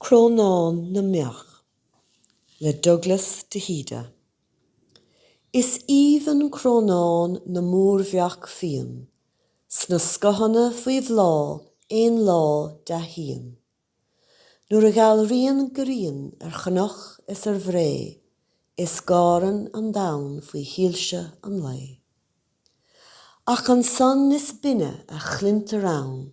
Crónán na mBeach le Douglas De hÍde Is aoibhinn crónán na mórbheach fiain, sna scothanna faoi bhláth aon lá dea-shíon. Nuair a dhealraíonn grian ar chnoc is ar bhré, Is gáireann an domhan faoi shoilse an lae. Ach an son is binne a chluintear ann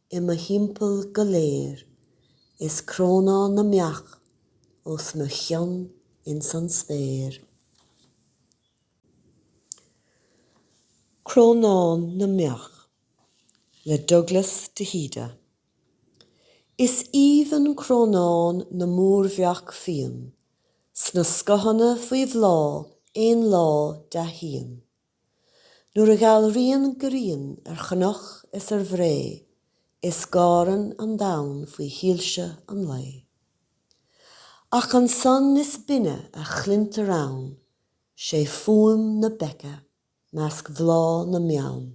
I mo thimpeall go léir is crónán na mbeach os mo chionn ins an spéir. Crónán na mbeach le Douglas De hÍde. Is aoibhinn crónán na mórbheach fiain, 'sna scothanna faoi bhláth aon lá dea-shíon. Nuair a dhealraíonn grian ar chnoc is ar bhré, is gáireann an domhan faoi shoilse an lae. Ach an son is binne a chluintear ann, 'sé fuaim na beiche measc bhláth na mbeann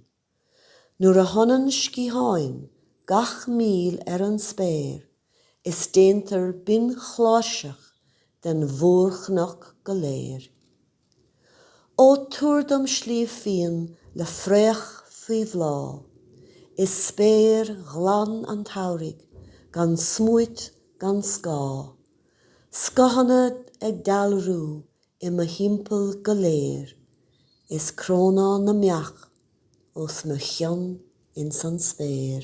Nuair a shonann sciatháin gach míl ar an spéir is déantar binnchláirseach den mhórchnoc go léir. Ó tabhair dom Sliabh Fíon le fraoch faoi bhláth, is spéir ghlan an tsamhraidh gan smúit gan scáth, scothanna ag dealrú I mo thimpeall go léir is crónán na mbeach os mo chionn ins an spéir.